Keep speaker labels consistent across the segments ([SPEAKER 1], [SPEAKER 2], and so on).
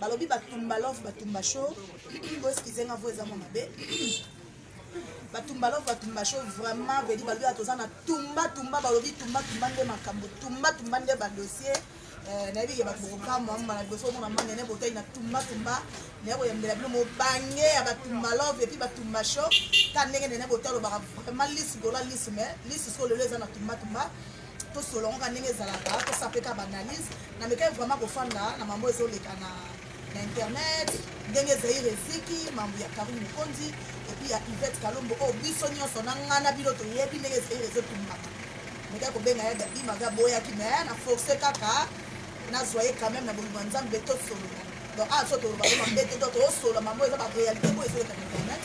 [SPEAKER 1] Balobi batumba love batumba show bo excuse nga voix eza mwa mabe batumba love batumba show vraiment vedi balobi ya toza na tumba tumba balobi tumba tumba nde makambo tumba tumba nde badossier eh, nayebi ke bato bokokamwa mbala liboso omona mwa nene botai na tumba tumba naye koyambela bino mobange ya batumba love epuis batumba show ta ndenge nene botai olobaka vraiment lisi gola lisi mais lisi so lelo eza na tumba tumba tosolola yango kaka ndenge ezalaka tosala mpe kaka baanalyse na mekaki vraiment kofanda na mambo ezoleka na na internet ndenge zaire eziki mambo ya karine mokonzi epuis ya ivete kalombo oyo oh, biso nyonso na nga na bino toyebi ndenge zaire ezotumbaka mekaki kobenga ya gabi maga boyaki me na force kaka nazwa ye quand même na bolingo ya nzambe tosolola donc awa ah, so toloba ko mabe te donc tosolola mambo eza barealité oyo ezoleka na internet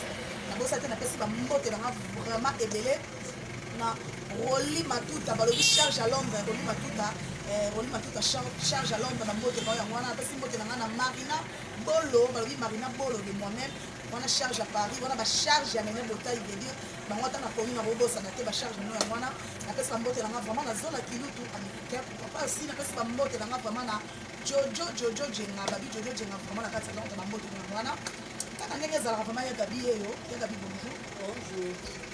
[SPEAKER 1] nabosa te napesi bambote nanga vraiment ebele na Rolly Matuta balobi charge à l'ombre Rolly Matuta eh, Rolly Matuta charge à l'ombre na mbote bao yango wana apesi mbote na ngai na Marina Bolo balobi Marina Bolo de moi-même wana charge à Paris wana ba charge ya Nene Botayi veut dire bango ata nakomi na kobosana te ba charge no yango wana napesi ba mbote na ngai vraiment na zola kilutu américain pourquoi pas aussi napesi ba mbote na ngai vraiment na Jojo Jojo Jenga babi Jojo Jenga vraiment na kati ya lonta ba mbote na yango wana kaka ndenge ezalaka vraiment ya gabi yeyo ya gabi bonjour bonjour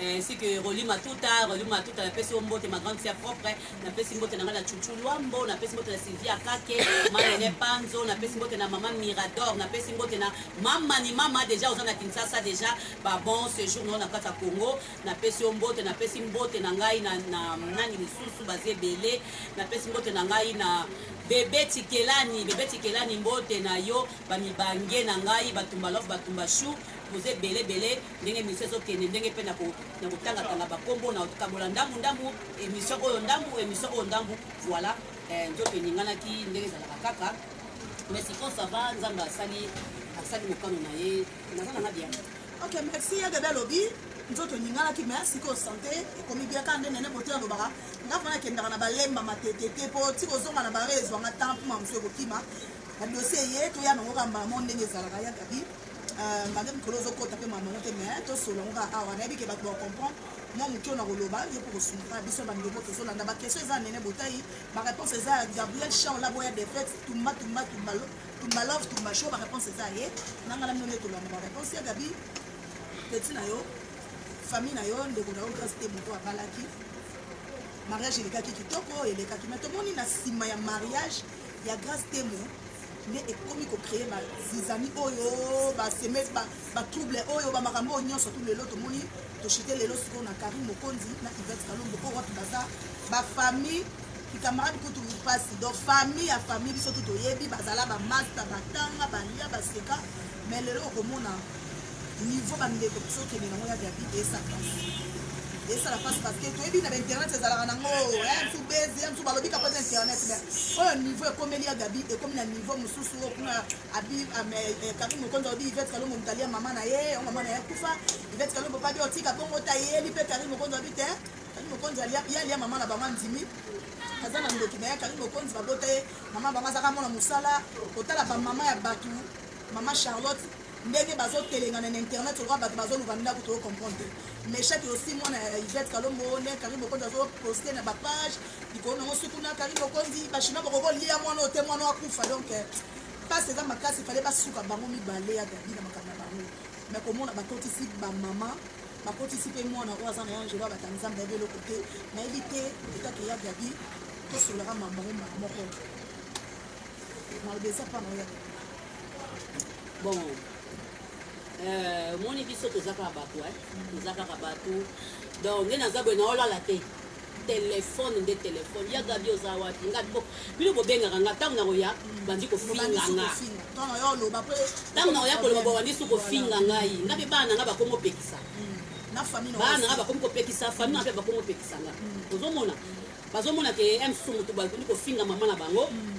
[SPEAKER 2] Ainsi que Rolly Matuta, Rolly Matuta na pesi yo mbote ma grande sœur propre, na pesi mbote na nga na Chouchou Luambo, na pesi mbote na Sylvia Kake, ma Nene Panzo, na pesi mbote na maman Mirador, na pesi mbote na mama ni mama deja oza na Kinshasa deja ba bon séjour na yo na kata Congo, na pesi yo mbote, na pesi mbote na ngai na, na nani misusu baza ebele, na pesi mbote na ngai na bebe Tikelani, bebe Tikelani mbote na yo, ba mibange na ngai, ba Tumba Love, ba Tumba Chou, Boza ebele ebele ndenge emission ezo kende ndenge pe nako nako tanga tanga ba kombo nao kabola ndambu ndambu emission oyo ndambu emission oyo ndambu voila eh, nzoto eninganaki ndenge ezalaka kaka mais sikoyo ça va nzambe asali asali mokano na ye naza nanga bien ok merci ya
[SPEAKER 1] bebe alobi nzoto eninganaki me sikoyo sante ekomi bia kaka nde nene bote alobaka nga mpo nakendaka na balemba matete te mpo ti kozonga na bare ezwanga temps mpo mamosu ekokima badosie eye toya nango kaka mbala mo ndenge ezalaka ya gabi Euh, mage mikolo ozokota mpe mamango te mais tosolo yango kaka awa nayebi ke bato bacomprendre mwa moke oyo nakoloba yo mpo kosunga biso bandeko tozolanda bakestion eza nene botai baréponse eza ya gabriel char labo ya defete tumba tumba tumba tumba love tumba show baréponse eza ye nanga na mino nde tolanda baréponse ya gabi peti na yo famille na yo ndeko na yo grace te moto abalaki mariage elekaki kitoko elekaki mai tomoni na nsima ya mariage ya grace temo nde ekomi ko cree ba zizani oyo ba seme ba, ba trouble oyo ba makambo oyo nyonso tu lelo tomoni toshite lelo sikoyo na Karim Mokonzi na Yvette Kalombo oyo wapi baza ba famille bikamarade kutu mpasi donc famille ya famille biso tu toyebi bazala bamasta batanga balia baseka mais lelo okomona niveau bandeko biso okende nango ya gabi esa pasi esala pasi parceke toyebi na bainternet ezalaka nango ya eh, msu bezi ya msu balobi kapa na internet me oyo niveau ekomeli ya gabi ekomi na niveau mosusu oyo kuna abi eh, kari mokonzi alobi ivete kalombo motali ya mama na ye yango mama na ye akufa ivete kalombo pabi otika bongo tayeli mpe kari mokonzi alobi te kari mokonzi ye alia mama na bango andimi aza na ndoki na ye kari mokonzi babota ye mama bango azaka mona mosala kotala bamama ya bato mama charlotte Ndenge bazo telengana na internet lokola batu bazo luka ndaku tozo comprendre te. Meshak yo si mwana ya Yvette kalombo ndenge Carine Mokonzi azo poste na ba page likolo nango suku na Carine Mokonzi ba chinois boko ko lia mwana oyo te mwana oyo akufa donc pasi eza makasi fallait ba suka bango mibale ya Gaby na makambo na bango mais komona ba kotisi ba maman ba kotisi pe mwana oyo aza na ya Angelo abata Nzambe ayebi eloko te nayebi te peut-être que ya Gaby tosololaka mambo yango mbala moko maloba eza pa na oyo ya Gaby
[SPEAKER 2] Bon, euh, moni biso toza kaka bato eh? toza kaka bato donc nde naza boye naolala te telefone nde telefone ya gabi oza wapi nga bino bobengaka nga ntango nakoya bandi kofinga nga ntango nakoya koloba bobandi su kofinga ngai nga mpe bana nga bakomi opekisa hmm. bana nga bakomi kopekisa fami nga mpe bakomi opekisa nga hmm. ozomona bazomona ke msu motu bakomi kofinga mama na bango hmm.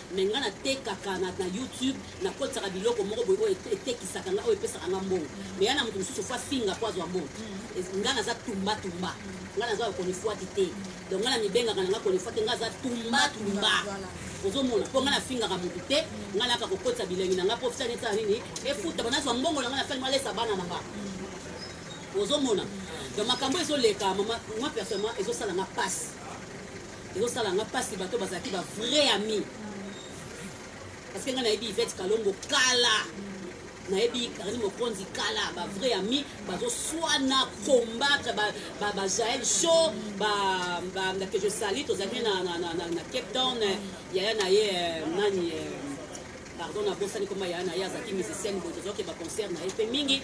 [SPEAKER 2] Mais nga na tekaka na na YouTube na kotisaka biloko moko boye oyo etekisaka nga oyo epesaka nga mbongo mais ya na mutu mususu faut afinga po azwa mbongo nga naza tumba tumba nga naza yo konifuati te donc nga na mibengaka na nga konifuati te nga aza tumba tumba ozomona po nga na fingaka mutu te nga naka kokotisa bilengi na nga po fitani etala nini efuta banazwa mbongo na nga na fani malesa bana na nga ozomona donc makambo ezoleka mama moi personnellement ezosala nga pasi Ezo sala nga pasi bato bazalaki ba vrai ami parce que nga nayebi Yvette Kalombo kala nayebi Carine Mokonzi kala ba vrai ami bazo swana combattre ba ba, ba Jael Show ba ba que je salue tozalaki na na na, na, na Cape Town yaya na ye euh, nani euh, pardon nabosani koma yaya na ye azalaki musicienne boye tozalaki ba concert na ye mpe mingi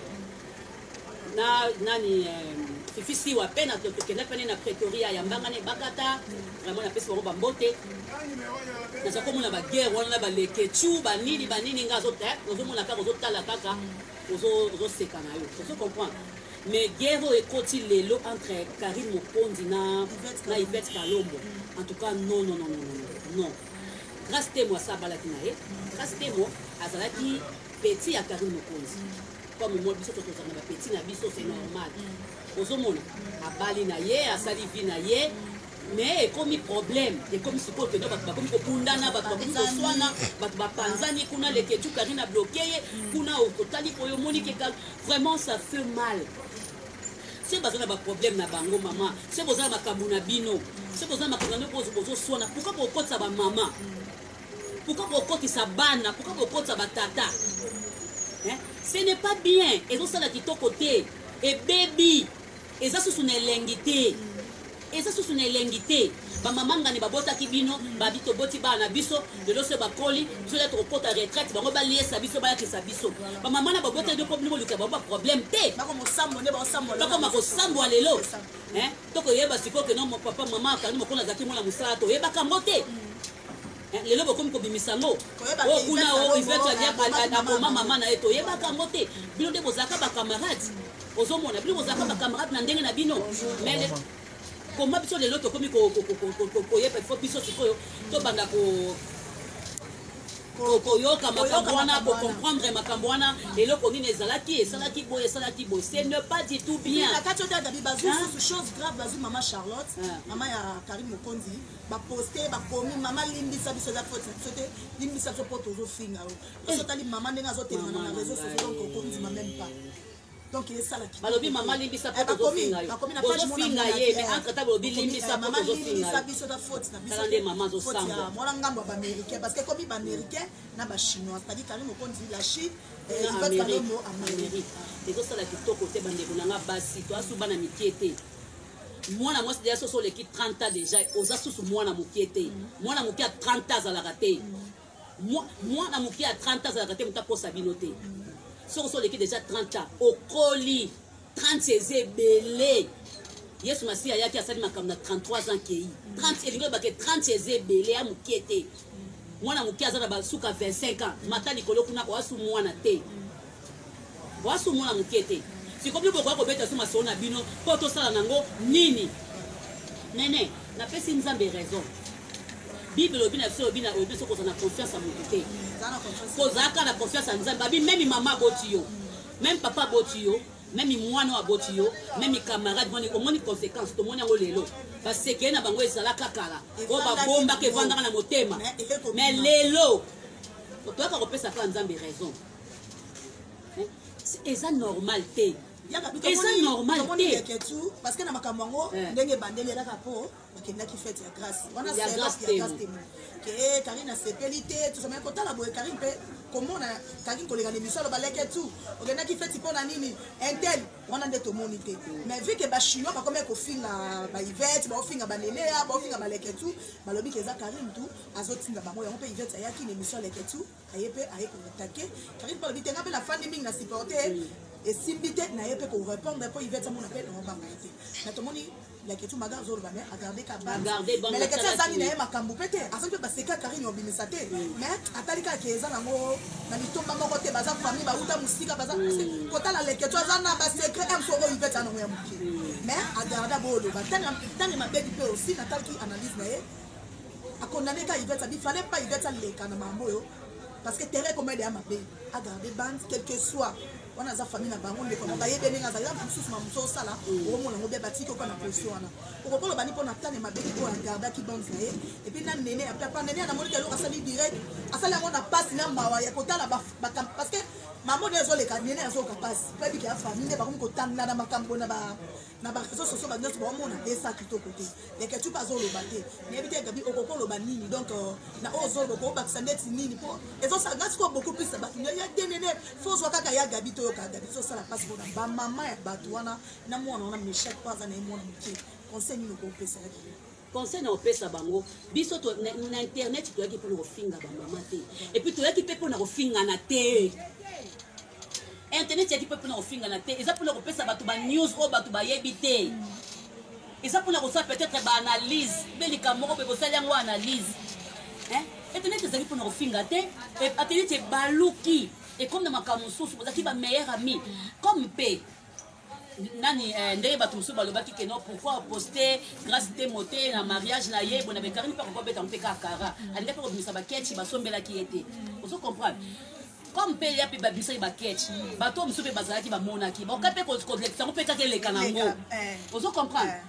[SPEAKER 2] na nani eh, fifi siwa pe na tokenda pene na pretoria ya mbanga na ebakata vraiment napesi bango bambote naza komona baguerre wana na balekechu banini banini nga ozomona eh, kaka ozotala kaka ozoseka na yo ozo comprendre mais guerre oyo ekoti lelo entre karine mokonzi na na ivete kalombo en tout cas non non non non non grace temo asa abalaki na ye grace temo azalaki petit ya karine mokonzi comme moi biso tokozanga ba petit na biso c'est normal ozomona abali na ye asali vie na ye mais ekomi problème ekomi sikoyo mpenza bato bakomi kobundana bato bakomi koswana bato bapanzani kuna leketu karine abloke ye kuna okotali mpo yo omoni keka vraiment ça fait mal se baza na baproblème na bango mama se boza na makambo na bino se boza na makambo na bino bozoswana pourkoi bokotisa bamama Pourquoi bokotisa bana? Pourquoi bokotisa ba tata? Hein? Ce n'est pas bien. Ezo sala kitoko te. Ebebi. Eza susu na elengi te. Eza susu na elengi te. Ba mama ngani babotaki bino, babi toboti bana na biso, lelo se bakoli, biso lelo tokokota retraite, bango baliesa biso, bayakisa biso. Ba mama na babotaki bino mpo bino boluka bango ba problème te. Bako mosambo nde bao sambola. Bakoma kosambwa lelo. Hein? Toko yeba sikoyo que non mon papa maman akangi mokolo azalaki mwana musala to yebaka yango te. Eh, lelo bokomi kobimisa yango o oh, kuna o oh, ivete akoma mama na ye toyebaka yango te bino nde bozalaka bacamarade ozomona bino bozalaka bacamarade na ndenge na bino mais koma biso lelo tokomi koyeba ifo biso sikoyo tobanda Koyoka makambo wana, ko comprendre makambo wana, eloko nini ezalaki, esalaki boye, esalaki boye, ce n'est pas du tout bien. Na kati oyo Gabi bazui
[SPEAKER 1] susu chose grave, bazui maman Charlotte, maman ya Karine Mokonzi, ba poster, ba komi maman limbisa biso eza faute na biso te, limbisa biso po tozo finga yo. Soki otali maman ndenge azo telema na reseaux sociaux donc oko ndima meme pas. donc esala kitoko balobi mama limbisa mpo
[SPEAKER 2] eh, tozofinga yo bozofinga ye mais eh. entre temps bolobi limbisa mpo tozofinga biso ta faute na
[SPEAKER 1] biso nde mama azosambwa
[SPEAKER 2] mwana ngambo ya baaméricain
[SPEAKER 1] parce que ekomi baaméricain na bachinois c'est-à-dire kani mokonzi la chine
[SPEAKER 2] eh, ezosala kitoko te bandeko na nga basi toasu bana mikie te mwana mwasi deja soso oleki 30 ans deja oza susu mwana mokie te mm. mwana mokie ya 30 ans azalaka te mm. Mwana moke ya 30 ans azalaka te moto akosa bino te. Soki osi oleki deja 30 ans, okoli 30 eza ebele. Yesu Masiya ayaki asali makambo na 33 ans kei. 30 elingi loba ke 30 eza ebele ya moke te. Mwana moke aza na basuka 25 ans, mata likolo kuna oasu mwana te. Boa sumo na mukie te. Siko bino bokoya kobeta su masolo na bino po tosala nango nini? Nene, napesi Nzambe raison. Bible elobi na biso elobi na elobi biso kozala na confiance ya mutu te. Kozala kaka na confiance ya Nzambe. Babi meme mama aboti yo. Meme papa aboti yo. Meme mwana oyo aboti yo. Meme camarade moni omoni conséquence tomoni yango lelo. Ba sekele na bango ezalaka kala. Oyo babombaka evandaka na motema. Mais lelo toyaka kopesa kaka Nzambe raison. eza normal te eza normal te parce que na makambo
[SPEAKER 1] yango eh. ndenge ebandeli elaka mpo bakendaki fete ya grace wana ya grace temo ke eh, karine asepeli te tozamaki kotala boye karine mpe komona karine koleka na emission aloba leke tu okendaki feti mpo na nini intel wana nde tomoni te mais vu ke bachinois bakomaki kofinga baivete baofinga banelea baofinga baleke tu balobi ke eza karine tu azotinda bango yango mpe ivete ayaki na emission leke tu Aye pe aye ko attaquer Carine pe alobi te nga pe na fandi mingi na supporter esimbi te naye pe ko repondre po Yvette amona pe nao banga ye te mais tomoni leketshou maga azoloba mais agarde ka banga mais leketshou azangi na ye makambu pe te azangi pe baseka karine obimisa te mais atali kaka ke eza nango na litomba moko te baza famille bawuta mosika baza kotala leketshou aza na basecret m soko ivete ya nango ya moke mais agarda booloba ntango mabebi pe osi natalaki analyse na ye A condamne ka Yvette abi fallait pas Yvette aleka na mambo oyo parce que terrain ekoma deya mabe a garder bande quelque soit wana aza famille na bango ndeko na bayebi ndenge azali yango mosusu ma mosusu osala okomona yango bia batiki oka na position wana okoki oloba ni mpo na tane mabe oyo agardaki bande na ye epuis na nene ya papa nene ya namoni keloko asali direct asali yango na mpasi na mawa ya kotala parce que mama oyo ezoleka nene azoyoka mpasi mpe abiki ya famille nde bakomi kotangana makambo na ba na ba réseaux sociaux ba nionso baomona esa kitoko te leketchup azoloba te nayebi te gabi okoki oloba nini donc euh, na oyo ozoloba okobakisa ndeti nini mpo ezosala nga sikoyo beaucoup plus na bato ya denene fo ozwa kaka ya gabi toyoka gabi ezosala mpasi mpona bamama ya bato wana na mwana wana mechak mpo aza na ye mwana moke conseil nini okopesa ya gabi conseil na
[SPEAKER 2] opesa bango biso to, na, na internet toyaki mpona kofinga bamama te epuis toyaki mpe mpona kofingana te Internet eyaki mpe mpona kofingana te, eza mpona kopesa bato ba news oyo bato bayebi te. Eza mpona kosala peut-etre ba analyse, mpe likambo moko mpe bosali yango analyse. Hein? Internet ezali mpona kofinga te, internet ebaluki ekomi na makambo mosusu, bozalaki ba meilleurs amis. Comme mpe. nani eh, ndenge bato mosusu balobaki ke non pourquoi oposte grace temo te na mariage na ye bona bekarini mpe akoki obeta mpe kaka kara alinga mpe kobimisa baketchi basombelaki ye te ozo comprendre comme mpe ya mpe babimisaki baketch bato oyo mosusu mpe bazalaki bamonaki bakoka mpe kolekisa yango mpe kaka eleka na yango eh. ozo comprendre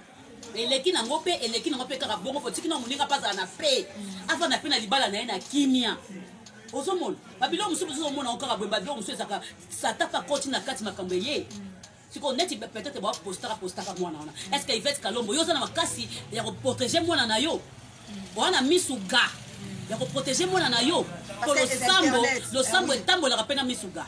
[SPEAKER 2] eh. eleki nango mpe eleki nango mpe kaka bongo fotiki na moninga mpe azala na pe afanda mpe na libala na ye na kimia ozomona babilo mosusu mosusu omona okaka boye babilo mosusu ezaka Satan pe akoti na kati makambo eye sikoyo neti peut-être bapostaka postaka mwana wana est ce que ivete kalombo yo oza na makasi ya koprotege mwana na yo oza na misu ga ya koprotege mwana na yo po losambo losambo etambolaka mpe na misu ga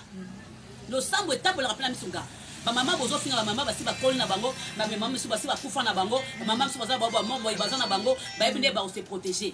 [SPEAKER 2] losambo etambolaka mpe na misu ga bamama bozofinga bamama basi bakoli na bango bamema misu basi bakufa na bango bamama misu baza baobamoboye baza na bango bayebi nde bakose protege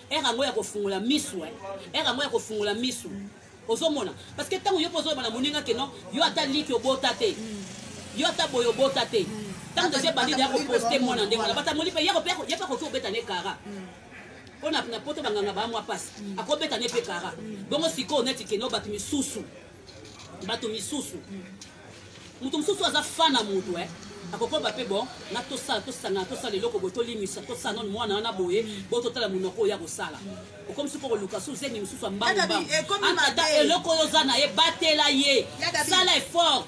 [SPEAKER 2] heure yango ya kofungola misu eh. heure yango ya kofungola misu ozomona parce que ntango yo mpe ozoloba na moninga ke non yo ata liki obota te yo ata boye obota te ntango tozo ebandi deya koposte mwana ndenge wana batamoli mpe ye mpe akoki kobeta ne kara mpo na poto banganga baa mwa mpasi akobeta ne mpe kara bongo sikoyo neti keno bato misusu bato misusu moto mosusu aza fa na moto eh. akokoba mpe bon na tosala tosangana tosala eloko boye tolimisa tosala nano mwana wana boye bo totala monoko oyo akosala okomisi mpo koluka su zemi mosusu ya mbangumbangutata eh, eloko oyo oza na ye batela ye sala effort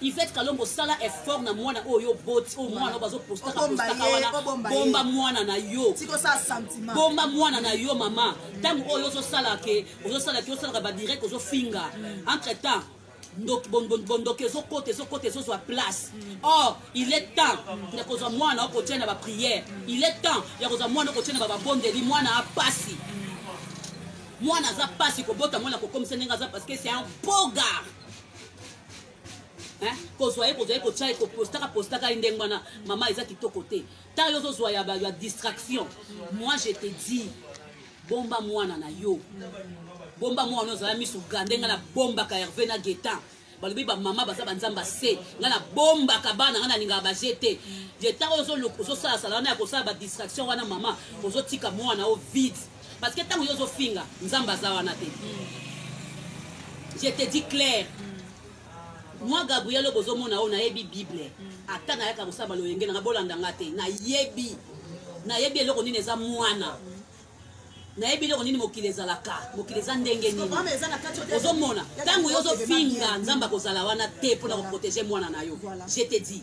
[SPEAKER 2] Yvette Kalombo sala effort na mwana oyo oboti oyo mwana oyo bazo postaka postaka wana bomba mwana na yo
[SPEAKER 1] bomba mwana na yo
[SPEAKER 2] mama ntango oyo ozosala ke ozosala ke osalaka badirect ozofinga hmm. entre temps bondoki ezokota ezokota ezozwa place hmm. or il est temps ya kozwa mwana okotia na bapriere hmm. il est temps ya kozwa mwana okotia na bababondeli mwana apasi mwana aza pasi kobota mwana kokomisa ndenge aza parce que c'est un beau gard kozwa ye kozwa ye kotya ye kopostaka postaka ye ndenge wana mama eza kitoko te ntango yo ozozwa ya, ya distraction moi je te dis bomba mwana na yo bomba mwana ozala miso ga ndenge na bombaka herve na getan balobi bamama baza banzambe ase ngai nabombaka bana ngai nalingaka baje te getan oyo ozosalasala wana ya kosala badistraction wana mama ozotika mwana o vide Parce que tango yo ozo finga nzambe aza wana te je te dis claire moi gabriel oyo bozomona oyo nayebi bible ata nayaka kosala baloyenge nanga bolanda nga te nayebi nayebi eloko nini eza mwana nayebi eloko nini mokili ezalaka mokili eza ndenge nini ozomona ntango yo ozofinga nzambe akozala wana te mpo na koprotege mwana na yo je te dis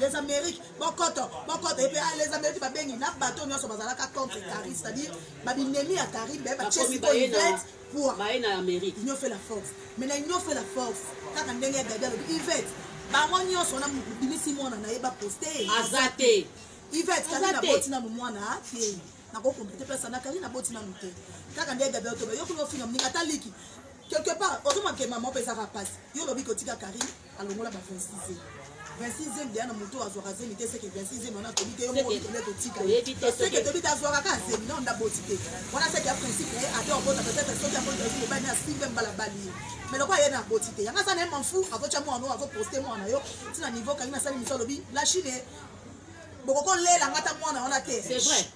[SPEAKER 1] les amériques bokoto bokoto epe ah, les amériques babengi na bato nyonso bazalaka contre carine c'est-à-dire babinemi ya carine baye batiesikoivete pour union
[SPEAKER 2] fait la force
[SPEAKER 1] mais na union fait la force kaka ndenge ya gabi alobi ivete bango nyonso wana bimisi mwana na ye baposte aza te
[SPEAKER 2] ivete kali
[SPEAKER 1] na boti nanu mwana ah, te nakokomplete place na kali na boti nanu te kaka ndenge gabi alobi yoki ofinga moninga ata liki quelque part ozomake mama opesaka mpasi yo olobi kotika carine alongola ba 26 e 26 ème deya na moto oyo azwaka zemi te seke 26 ème wana tobi te yomotobi totika seke tobi te azwaka kaka zemi na onda boti te wana seke ya principe ye ate obota peut-être soki yango ezali mobali na simbe mbala bali ye mais lokola ye na boti te yanga aza na ye manfu akotya mwana oyo akoposte mwana na yo ntina niveau kangi nasali mosu alobi la chine bokokolela nga ata mwana wana te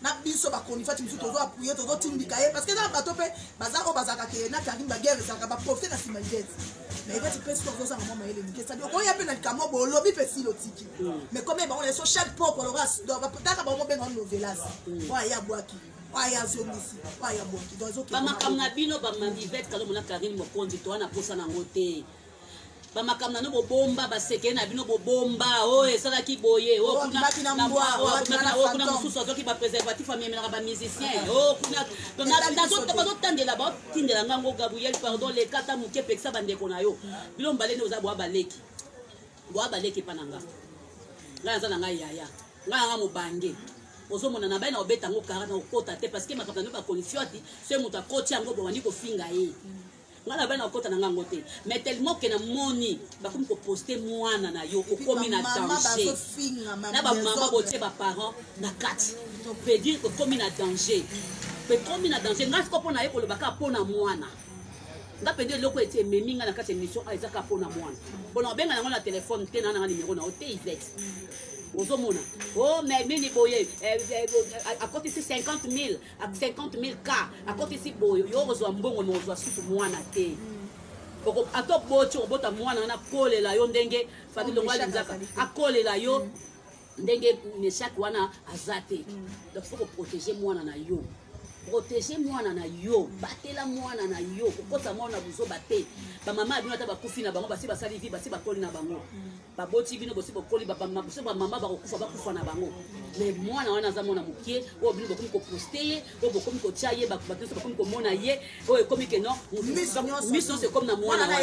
[SPEAKER 1] na biso ba chronifuati mosusu tozo appuye tozo tindika ye parce que eza na bato mpe baza oyo bazalaka ke na carine baguerre ezalaka baprofite na nsima idete mais ivati mpe soki ozozanga mwa mayele mike sadi okoya mpe na likambo bo olobi mpe sili otiki mais comme bango na biso chaque poko aloka taka bango mobenga novelas oyo aye abwaki oyo azongisi oyo abwaki donc ezokebamakambo na bino
[SPEAKER 2] bamamivet kalomona carine mokonzi towana mposa nango te bamakambo na bino bobomba basekele na bino bobomba oyo oh, esalaki boye oh, oh, kuna mosusu azwaki bapreservatif amemelaka bamusicien bazotandela batindela ngango gabriel pardon leka ata moke pekisa bandeko na yo bino mbalene oza bwa baleki bwa baleki epa na nga ngai aza na ngai yaya ngai nanga mobange ozomona na bai na obeta yango kara na okota te parce que makambo na bino bakonisiwati se moto akoti yango bobandi kofinga ye Nga na bana kokota nanga yango te mais tellement que na moni bakomi ko poster mwana na yo okomi na danger na ba maman botie ba parents na kati veut dire okomi na danger ekomi na danger nga siko pona ye koloba kaka pona mwana nga mpenza eloko ete ememi nga na kati ya émission a eza kaka mpo na mwana mpona obenga nango na telefone te na nanga nimero na yo te ivete ozomona o oh, mais nini boye eh, eh, eh, akotisi 50 000 Ak 50000 cas akotisi boyo yo okozwa mbongo mais okozwa susu mwana te. Oko ata oboti okobota mwana wana akolela yo ndenge famille longo alinzaka akolela yo ndenge Meshak wana aza te. Donc faut ko protéger mwana na yo. protege mwana na yo batela mwana na yo kokosa mwana na buzoba te bamama ya bino ata bakufi na bango basi basali vi basi bakoli na bango baboti bino bosi bokoli biso bamama bakokufa bakufa na bango me mwana wana aza mwana mokie oyo bino bokomi koposte ye oyo bokomi kotya ye bato nyonso bakomi komona ye oyo ekomi ke no miso nyonso ekomi na mwana
[SPEAKER 1] wana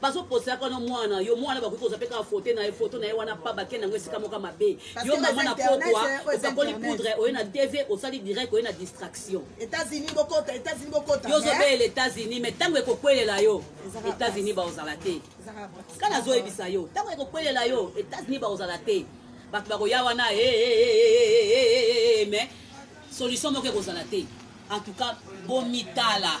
[SPEAKER 2] bazo posa yaka wana mwana na yo mwana bakoki kozwa mpe kaka fote na ye foto na ye wana pa bakenda yango esika moko mabe yo mama na pokwa opakoli poudre oye na tv osali direct oye na distraction
[SPEAKER 1] yo ozobele
[SPEAKER 2] etats-unis mais ntango ekokwelela yo etats-unis baozala te ka nazoyebisa yo ntango ekokwelela yo etats-unis baozala te bato bakoya wana mais solution moko ekozala te en tout cas bomitala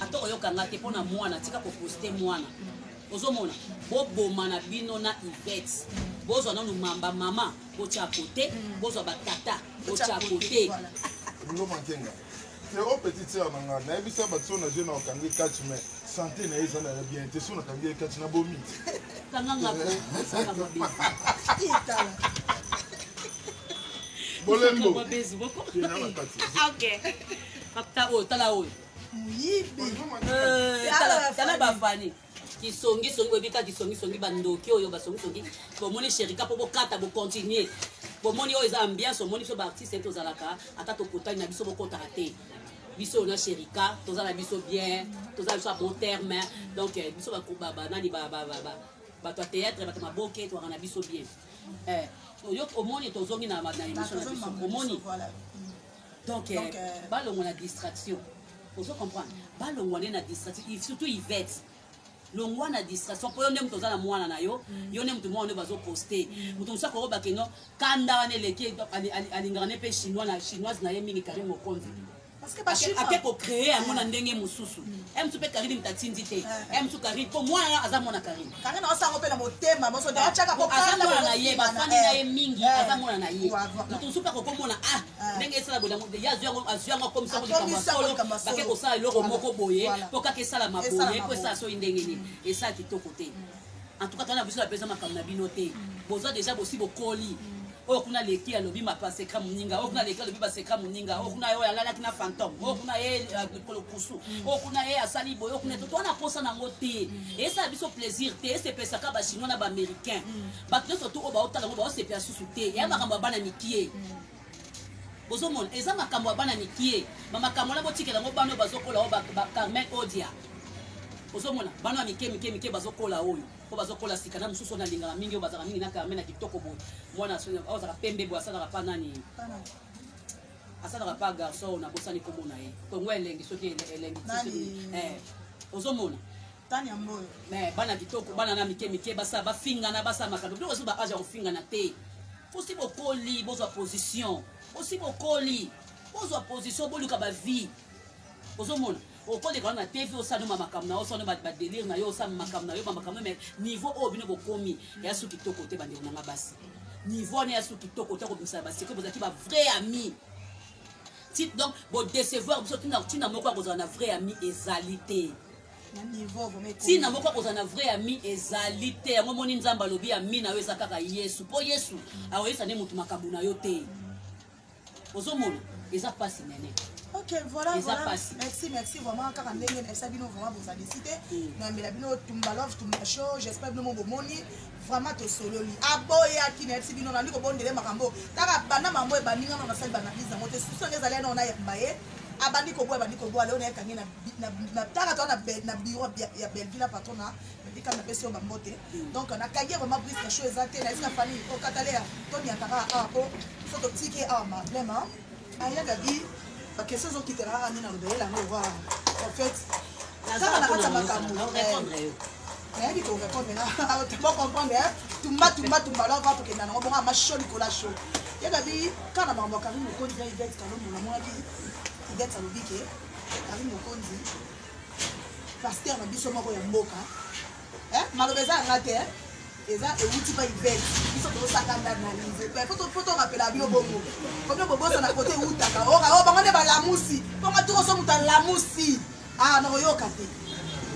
[SPEAKER 2] Ata oyoka nga te pona mwana tika ko poste mwana ozomona boboma na bino na Yvette bozwa nanu mamba mama botia kote bozwa batata botia kote
[SPEAKER 3] Frérot oh, petite sœur na nga nayebisa bato so na je na okangi catch mais santé na ye eza na ya bien te so nakangi ye catch na bomi bolembo
[SPEAKER 2] Tala oyo, tala oyo. Muyibi.
[SPEAKER 1] Eh, tala,
[SPEAKER 2] tala ba Fanny. Kisongi songi boyebi kaka kisongi songi ba ndoki oyo ba songi songi. Bomoni Sherika mpo bokata bo continuer. Bomoni oyo eza ambiance omoni biso ba artistes tozalaka ata tokotani na biso bokotaka te. biso na sherika toza na biso bien toza na biso ya bon terme donc eh, biso banani bato ya théâtre bato maboke toaka na biso bien eh, omoni tozongi na émission na biso omoni Donc, euh, Donc, euh, balongwa na distraction. Ozo comprendre? Balongwa nde na distraction, il- surtout Yvette. longwa na distraction mpo yo nde moto oza na mwana na yo yo nde moto mwana nde bazoposte moto mosusu akoyoba keno kanda wana eleki ye, ali- ali- alingaka ne mpe chinois na chinoise na ye mingi kari mokonzi Parce que ba Ake- chinois. ake kocree yango na ndenge mosusu e mosusu mpe karine moto atindi te e mosusu karine mpo mwana aza mwana karine Kanga na osango pe na motema moso da chaka ko kanga mwana na ye ba fandi na ye mingi aza mwana na ye mutu supa ko komona ah ndenge esala bola mutu ya zwa ngo azwa ngo comme ça ko kamba solo ba ke ko sala eloko moko boye po kaka esala maboye po esala soyi ndenge nini esala kitoko te en tout cas tana biso na pesa makambo na bino te boza deja bosi bokoli oyo kuna leki alobi mapaseka moninga oyo kuna leki alobi baseka moninga oyo kuna ye oyo alalaki na fantome oyo kuna ye eh, likolo kusu oyo kuna ye asali boye oyo kuna toto wana mposa nango te esala biso plaisir te esepesaka bachinois na baaméricain bato nyonso tu oyo baotala yango baosepela susu te ya makambo ya bana mikie bozomona eza makambo ya bana mikie bamakambo wana botikela yango bana oyo bazokola oyo bacarmen odia ozomona bana ya mike mike mike bazokola oyo po bazo kola sika na mususu na lingaka mingi oyo bazaka mingi na kame na kitoko boye mwana oyo azaka pembe boye asalaka pa nani asalaka pa garçon na bosani kombo na ye kongo elengi soki elengi eh, ozomona eh, bana kitoko bana na mike mike basa bafingana basa makambo biloko ezo ba age ya kofingana te posi bokoli bozwa position posi bokoli bozwa position boluka bavie ozomona okoleka wana TV osala noma makambo na yo osala ba delire na yo osala makambo na yo ba makambo mais niveau oyo bino bokomi ya su kitoko te bandeko na nga basi niveau wana ya su kitoko te kobimisa ba secret bozalaki ba vrai ami tit donc bo décevoir biso tina tina moko akozala na vrai ami ezali te ntina moko akozala na vrai ami ezali te yango omoni nzambe alobi ami na yo eza kaka yesu mpo yesu akoyesa nde moto makambo na yo te ozomona eza pasi nene ok voilà eza
[SPEAKER 1] voilà pasi merci merci vraiment kaka ndenge nayebisa bino vraiment bozali si te Mm. nayambela bino tumba love tumba show j'espère bino mo bomoni vraiment tosololi aboyaki nayebisi bino nandi kobondele makambo kaka banda mambo ebandi ngano nasali banalyse yango te susu yango ezali yanao nayamba ye abandi koboya abandi koboya leo nayekangi na bi- na- na tanga toa na Bel- na bureau ya- ya belleville na patron na Rebecca na pesi yo ba mbote. Donc na kage vraiment brise na show eza te na esika fani o katalea to ni ataka a ko so to tiki a ma vraiment. Aya gabi ba question zo kitela a ni na lobe la no wa. En fait kaka na kata makambo. nayebi ko répondre na bo comprendre hein tumba tumba tumba alors va tokenda nango bongo ama chaud likolo ya chaud ye gabi kaka na makambo ya karine mokonzi na ivete kalombo namonaki ivete alobi ke karine mokonzi pasteur na biso moko ya mboka eh, maloba eza yanga te eh. eza ewuti pa ibet biso tozosakanda analyse po torapela bino bongo komi bobosana kote ewutaka oka o oh, bango nde balamusi mponga tokoso moto alamusi a ah, nakoyoka te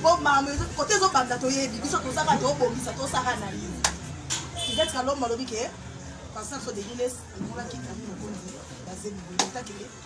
[SPEAKER 1] po mama kote ezobanda toyebi biso tozaka tobongisa tosaka analyse ibet kalombo alobi ke pasteur so degiles amonaki ami mokonzi bazeli boye otakele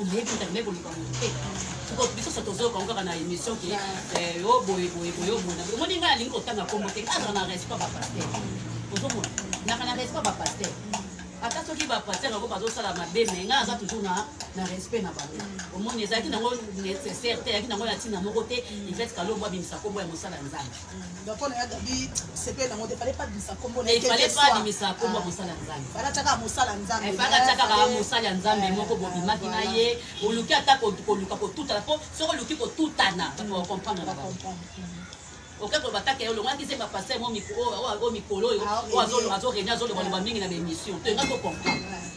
[SPEAKER 2] oboyaki nzambe koluka moto te soko biso so tozoyoka ngo kaka na émission ke eh, o oh, boye boye boye obona oh, omoni ngai alingi kotanga nkombo te azala na respect bapaster ozomona naka na respect bapaster ata soki bapaster yango bazosala mabe me ngai aza toujours na na respect na bango omoni ezalaki nango nécessaire te ezalaki nango na ntina moko te ifet kalombo abimisa nkombo ya mosala nzambe
[SPEAKER 1] pona ya gabi sepele nango te fallait pas bimisa kombo na fallait pas
[SPEAKER 2] bimisa kombo ah. mosala nzambe fallait ataka mosala
[SPEAKER 1] nzambe eh, fallait ataka ba mosala
[SPEAKER 2] nzambe eh, moko bobimaki na ye oluki ata koluka kotutana po soki oluki kotutana o comprendre na bango okoki koloba kaka yo olongaki se bapaster o mikolo oyo azoregne azolobaloba mingi na baémission to enga to comprendre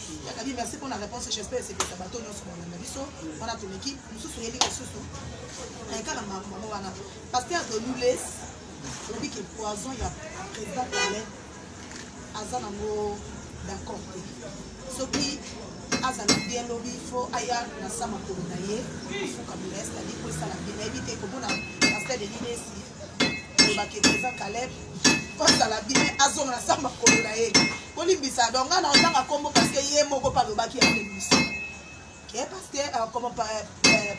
[SPEAKER 1] Ya Gaby merci pour la réponse j'espère esepelisa bato nyonso balanda biso wana tomeki mosusu oyebi lisusu eka na makambo wana pasteur de nules olobi ke poison ya président palais aza nango d'accord te soki azala bien lobi fo aya na sa makolo na ye afukamela estadi po esala bien nayebi te komona pasteur de nules olobaki eza caleb kosala bine azonga na samba kolo na ye kolimbisa donc nga na otanga nkombo parceke ye moko mpe alobaki yango emission ke parceke koma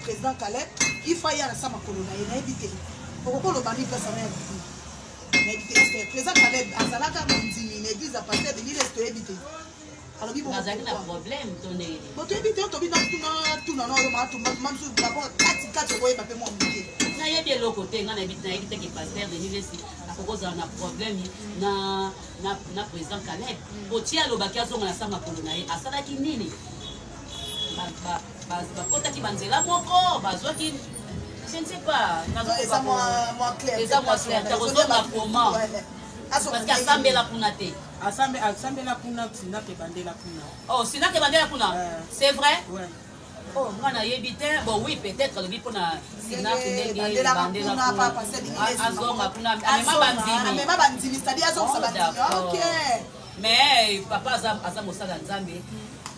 [SPEAKER 1] président caleb ifa ye na samba kolo na ye nayebi te okoki oloba nini place ana ya bikulu nayebi te président caleb azalaka mondimi na eglise ya pasteur de lile toyebi te alobi bongo bazali na problème
[SPEAKER 2] to ndenge nini botoyebi te tobi
[SPEAKER 1] natuna tuna na oyo matumba tuma mosusu bako kati kati okoyeba mpe mwa moke nayebi eloko
[SPEAKER 2] te ngai nayebi nayebi teke paster denis lesi akokozala na problème na na na président caleb mm. botie alobaki azonga na sa makolo na ye asalaki nini bakotaki banzela moko bazwaki je ne sais pas eza
[SPEAKER 1] mwa clair eza mwa clair takozonga
[SPEAKER 2] comment parce que asambela kuna te Asambe asambela
[SPEAKER 4] kuna Sina Kebandela kuna. Oh Sina Kebandela
[SPEAKER 2] kuna. Euh. C'est vrai? Ouais.
[SPEAKER 4] Oh nga
[SPEAKER 2] nayebi te. Bon oui peut-être alobi mpo na Sina ndenge Bandela kuna
[SPEAKER 1] papa c'est bien. Ah, azonga kuna amema
[SPEAKER 2] bandimi. Amema bandimi c'est-à-dire azonga
[SPEAKER 1] oh, bandimi. OK. Mais
[SPEAKER 2] papa aza aza mosala Nzambe.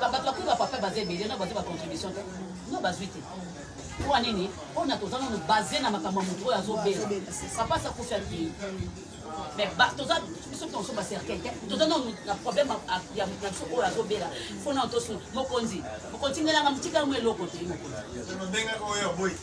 [SPEAKER 2] Bato bakomi ba papa baza ebele na bazwi ba contribution te no bazwi te mpo nini mpo na toza nano base na makambo ya moto oyo azobela papa sa kufi akei mais toza biso tonso bacercueil te toza nano na problème ya biso oyo azobela mpo nano tosu mokonzi mokonzi tindelanga motika yango eloko te mokonzi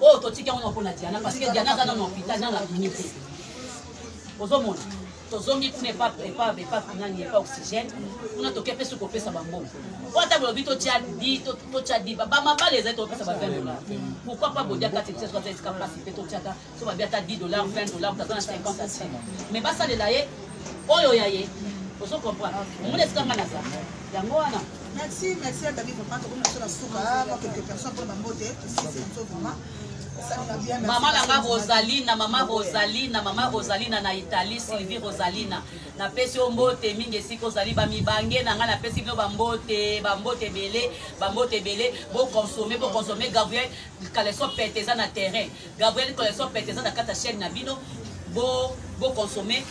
[SPEAKER 2] oyo totiki yango noko na diana parce que diana aza nano hôpital nano abimi te ozomona tozongi kuna epape nani epa oxygène kuna toke mpe soki kopesa bambongo po ata bolobi totya di totya di bamabala ezali tokopesa ba 20 dollar pourquoi pas bodia kati bisaso aza esika mpasi mpe totyaka so babi ata 10 dollar 20 dollar taza na 50 asin mais basalela ye oyo ya ye ozo comprendre omona esika nga naza yango wana Merci, merci à
[SPEAKER 1] David Papa, comme la seule souka, ah, moi quelques personnes pour ma beauté, si c'est une chose vraiment.
[SPEAKER 2] mama na nga rosalina mama rosalina mama rosalina na italie sylvie rosalina napesi yo mbote mingi esika ozali bamibange na ngai napesi bino bambote bambote ebele bambote ebele boconsome boconsome gabriel kaleso pete eza na terrain Gabriel collection pete eza na kati ya chaîne na bino bo bo consommer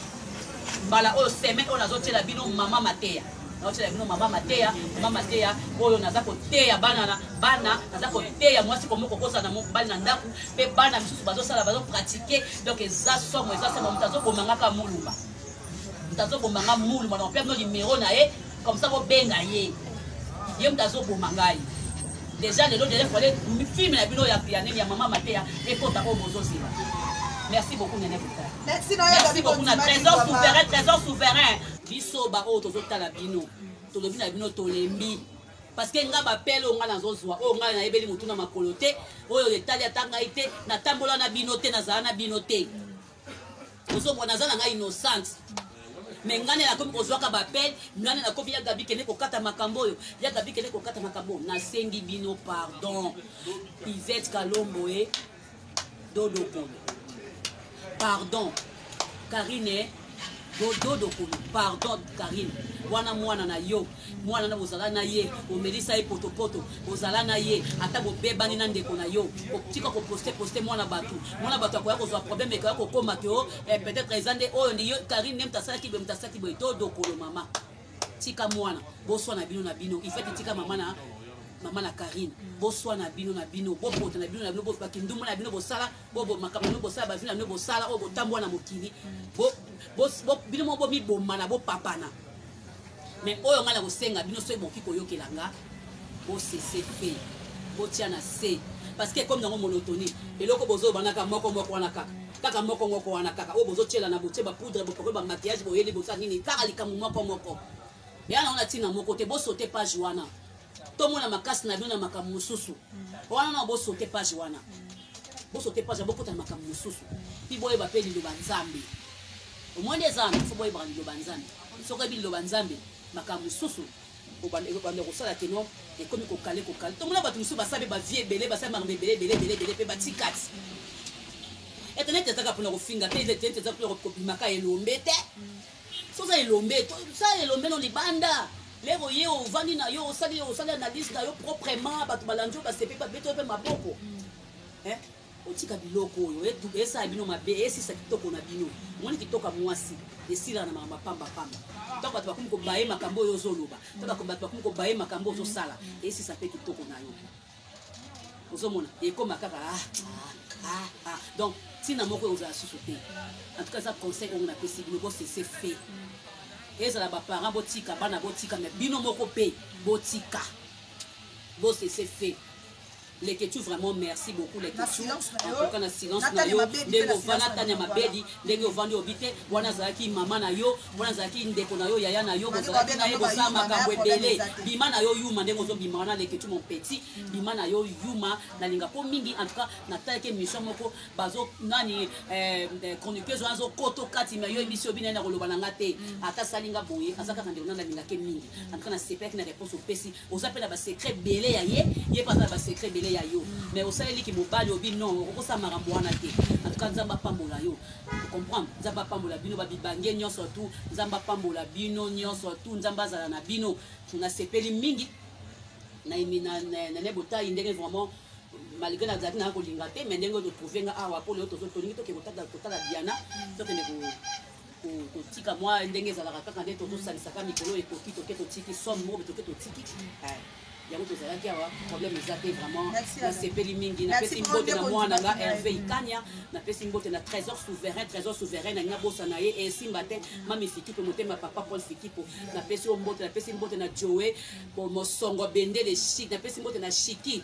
[SPEAKER 2] mbala oyo semaine oyo nazo tiela bino mama mateya nazo tiela bino mama mateya mama mateya oyo naza koteya bana na bana naza koteya mwasi komo kokosa na mobali na ndako mpe bana misusu bazo sala bazo pratique donc eza somo eza somo moto azo bomangaka mulumba moto azo bomanga mulumba na mpe no numero na ye comme ça bobenga ye ye moto azoboma ngai déjà lelo déjà fale filme na bino ya pianene ya mama mateya ekota oyo bozozela merci beaucoup nene bota merci beaucoup na trésor souverain trésor souverain biso baoyo tozotala bino tolobi na bino tolembi parce que nga bapele oyo nga nazozwa oyo nga nayebeli motu na makolo te oyo etali ata ngai te natambola na bino te nazala na bino te ozomona aza na ngai innocente me ngai nakomi kozwaka bapele ngai nakomi ya gabi kende kokata makambo oyo ya gabi kende kokata makambo oyo nasengi bino pardon ivete kalombo e dodokolo pardon karine dodokolo pardon karine wana mwana na yo Mwana na bozala na ye omelisa ye potopoto bozala na ye ata bobebani na ndeko na yo kotika koposte poste mwana bato mwana bato akoya kozwa problème ekoya kokoma ke o eh, peut-être eza nde oyo ndi karine nde moto asalaki boye moto asalaki boye to dokolo mama tika mwana boswa na bino na bino ifati tika mama na mama na karine boswa na bino na bino bopota na bino na bino bokindumba na bino bosala bo bomaka bino bosala ba vie na bino bosala oyo botambwa na mokili bo bo bino mo bomi bomana bo papana mais oyo ngai na kosenga bino soki boki koyokela nga bo cesse fait botia na se parce que ekomi nango monotonie eloko bozobanaka moko moko wana kaka kaka moko moko wana kaka oyo bozotyelana botie bapoudre bopakoli bamaquillage boyeli bosala nini kaka likambo moko moko eya nango na ntina moko te bosote page wana tomona makasi na bino na makambo mosusu wana na bosote page wana bosote page bokota na makambo mosusu mpi boyeba mpe liloba nzambe omoni eza wana fo boyebaka liloba nzambe soki oyebi liloba nzambe makambo mosusu obanda kosala keno ekomi kokale kokale tomona bato mosusu basali bavie ebele basali makambo ebele ebele ebele ebele mpe batikati etenete ezaka mpona kofinga te etenete eza mpona kobimaka elombe te Soki oza elombe, sala elombe no libanda. Lelo oye ovandi na yo, osali osali analyse na yo proprement, bato balandi yo basepeli babeti yo mpe maboko. Mm. Eh? Otika biloko oyo esala bino mabe, esisa kitoko na bino. Omoni kitoka mwasi esila na makambo pamba pamba. Ntango bato bakomi kobaye makambo oyo ozoloba, ntango bato bakomi kobaye makambo ozosala, esisa mpe kitoko na yo. ozomona ekoma kaka ah, ah, ah, ah. donc ntina moko ekozala susu te en tout cas eza conseil oyo napesi bino bosese fe ezala baparent botika bana botika me bino moko mpe botika bosese fe leketu vraiment merci beaucoup leketu akoka na silence
[SPEAKER 1] na yo
[SPEAKER 2] ndenge ovanda tania mabedi ndenge ovandi obi te wana azalaki mama na yo Wana azalaki ndeko na yo yaya na yo bozalaki na ye bosala makambo ebele bima na yo yuma ndenge ozobima wana lekethu mon petit bima na yo yuma nalinga po mingi en tout cas natalaki émission moko bazo nani eh, eh, chroniqueuse wana azokoto kati ma yo emission bina na koloba na nga te ata sali nga boye aza kaka ndeko na nalingaki mingi en tout cas nasepelaki na réponse opesi Oza pe na ba secret ebele ya ye, ye pe aza na ba secret ebele ya yo. Mais osaleli ki mobali obi non okoki kosala makambo wana te. En tout cas Nzambe apambola yo. O comprendre? Nzambe apambola bino ba bibange nionso tout. Nzambe apambola bino nionso tout. Nzambe azala na bino. Na sepeli mingi na emi na Nene Botayi ndenge vraiment malgre na zalaki na ko linga te mais ndenge to trouver nga awa po lelo tozo tolingi to ke ko tala Diana to kende ko kotika mwa ndenge ezalaka kaka nde tozosangisaka mikolo oyo ekoki toke totiki somme moko toke totiki eh, yango tozalaki awa problème eza te vraiment nasepeli mingi napesi mbote na mwana nga herve ikania napesi mbote na trésor souverain trésor souverain nalingi nabosa na ye esimba te mami fikipo motema papa paul fikipo napesi yo mbote napesi mbote na joe mosongo bendele chik napesi mbote na chiki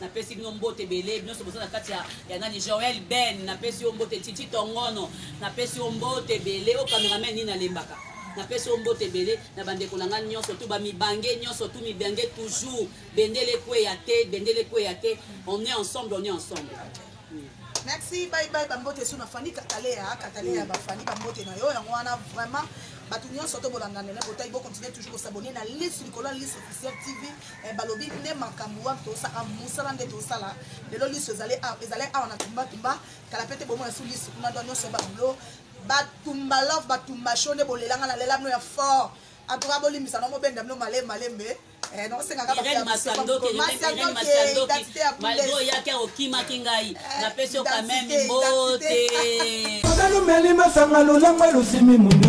[SPEAKER 2] napesi bino mbote ebele binonso boza na kati ya, ya nani joel ben napesi yo mbote titi tongono napesi yo mbote ebele o cameraman nini alembaka napesi yo mbote ebele na bandeko na ngai nyonso tu bamibange nyonso tu mibange toujours bendele ekweya te bendele ekweya te on est ensemble on est ensemble merci
[SPEAKER 1] bye bye bambote esu na fani kataleya kataleya bafani bambote na yo yango wana vraiment bato nyonso to bolandana na botai bokontinue toujours kosabone na liste likolo ya liste officiel tv Eh balobi nde makambu wapi tosa ah, musala nde tosala lelo lisu ezali ah, ezali awa na tumba tumba kala pete bomona su lisu kuna doa nyonso ya babulo batumba love batumba show nde bolelanga na lela bino ya fort en tout cas bolimbisa na mobenda bino malembe malembe eh,
[SPEAKER 2] malgre oyaki akokimaki ngai eh, napesi yo kameme
[SPEAKER 5] mbote ozali
[SPEAKER 2] omeli
[SPEAKER 5] masanga
[SPEAKER 2] lolangwa
[SPEAKER 5] losimi
[SPEAKER 2] mundu